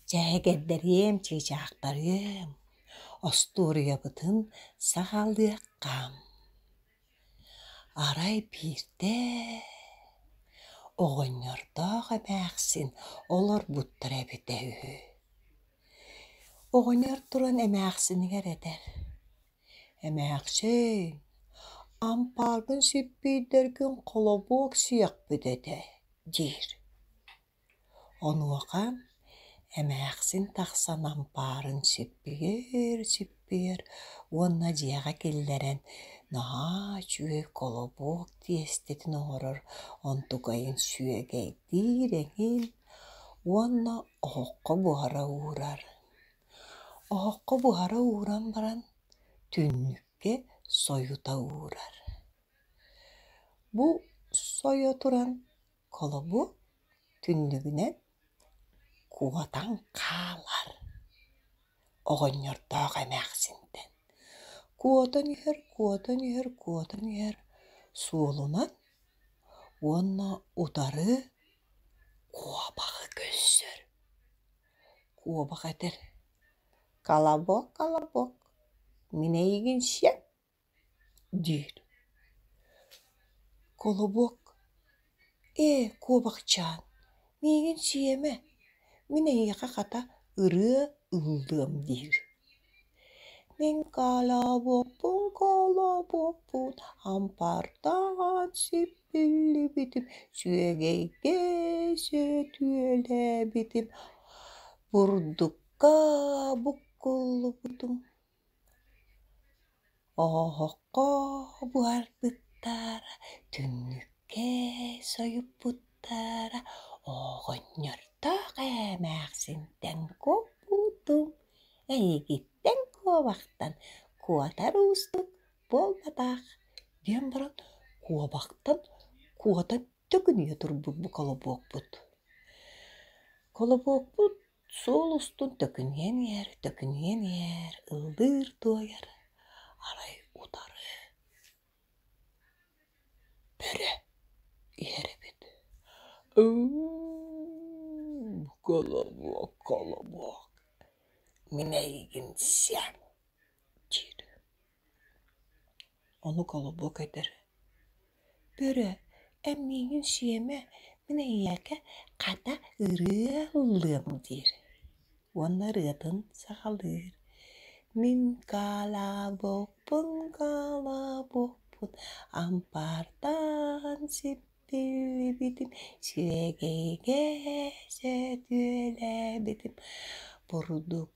Дьээгирдэриэм, чыычаахтарыам, остуоруйабытын саҕалыаххам. Арай биирдэ оҕонньордоох эмээхсин олорбуттара эбитэ үһү. Оҕонньор туран эмээхсинигэр этэр: «Эмээхсин, ампаарбын сиппиирдэргин холобуок сиэхпит этэ» диир. Онуоха эмээхсин тахсан ампаарын сиппиэр-сиппиэр уонна дьиэҕэ киллэрэн наһаа үчүгэй колобок тиэстэтин оҥорор онтугайын сүөгэйдиир эҥин уонна оһоххо буһара уурар. Оһоххо буһара ууран баран түннүккэ сойута уурар. Бу сойо туран Холобу түннүгүнэн куотан хаалар оҕонньордоох эмээхсинтэн. Куотан иһэр, куотан иһэр, куотан иһэр суолунан уонна утары куобаҕы көрсөр. Куобах этэр: «Колобок, колобок, мин эйигин сиэм». диир Колобок «Ээ, куобахчаан, миигин сиэмэ, мин эһиэхэ хата ырыа ыллыам» диир Мин калабоппун, калабоппун, ампардаан сиппиллибитим, сүөгэйгэ сөтүөлээбитим, бурдукка буккуллубутум Оһоһоххо буһарбыттар, түннүккэ сойуппуттара, оҕонньордоох эмээхсинтэн куоппутум, эйигиттэн куобахтан куотар уустук буолбатах, диэн баран куобахтан куота төгүнүйэ турбут бу колобуокпут. Колобуокпут Суол устун төкүнүйэн иһэр, төкүнүйэн иһэр, ыллыыр туойар, арай утары бөрө иһэр эбит. Колобок, колобок, минэйгин сиэн, диир. Омук олобуо көтөр: «Бөрө, эн миигин сиэмэ, мин эйиэхэ хата ырыа ыллыам» диир уонна ырыатын саҕалыыр: «Мин гаалабоппун, гаалабоппун, ампаардаан сиппибитим, сирэгэйгэ сэтиэлээбитим, бурдук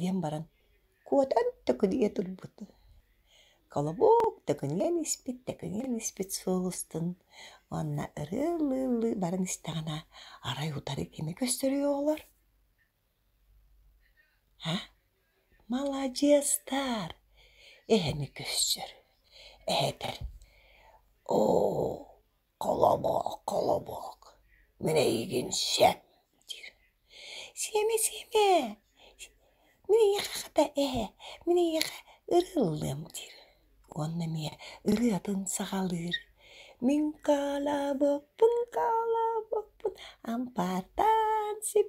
диэн баран куотан төкүнүйэ турбутум холобук төкүнүйэн испит төкүнүйэн испит суол устун уонна ырыалыы-ыллыы баран истэҕинэ арай утары кими көстөрүй оҕолор а маладьыастар эһэни көссөр эһэтэр оо Холобуок, холобуок, мин эйигин сөп диир. Сиэмэ, сиэмэ, мин эйиэхэ хата ээ, мин эйиэхэ ырыа ыллыам диир. Уонна эмиэ ырыатын саҕалыыр. Мин каалабаппын, каалабаппын, ампаартаан сип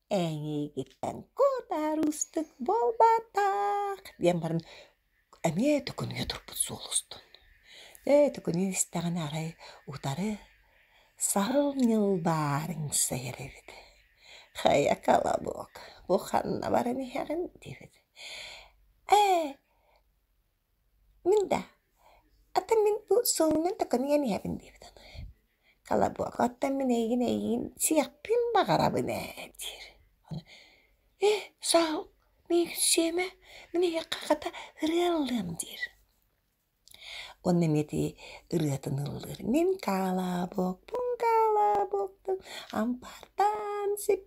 Эйиигиттэн кутаары устук буолбатах диэн баран эмиэ төкүнүйэ турбут суол устун. Ээ төкүнүйэ истэҕинэ арай утары сарыл ньылбаарыҥ сайар эбит. Хайа колобок бу ханна баран иһэҕин диэбит. Ээ Мин да атын мин бу суолунан такыныйан иһэбин диэбит аны. Калабуака оттон мин эйигин эйигин сиэхпин баҕарабын ээ диир. Ээ саал мин сиэмэ мин эйиэхэ хата ырыан ылыам диир. Уонна эмиэ ити ырыатын ыллыыр. Мин калабокпун калабоктум ампаардаан сип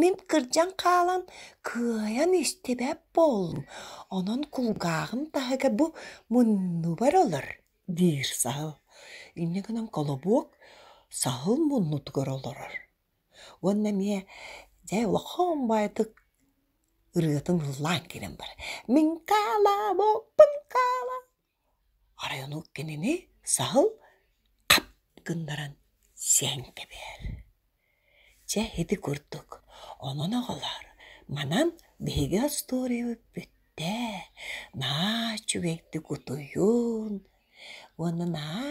Мин кырдьан хаалан кыайан истибэт буоллум, онон кулгааҕым таһыга бу муннубар олор диир саһыл. Инньэ гынан колобуок саһыл муннутугар олорор. Уонна эмиэ дьэ улахан баайытык ырыатын ыллаан кэлэн барар: «Мин каалаабыппын каала» Оройуонук кинини саһыл хап гыннаран сиэн кэбиһэр. Чэ ити курдук онон аҕалар манан биһиги остуоруйабыппыт ээ наа үчүгэйдик утуйуун уонна наа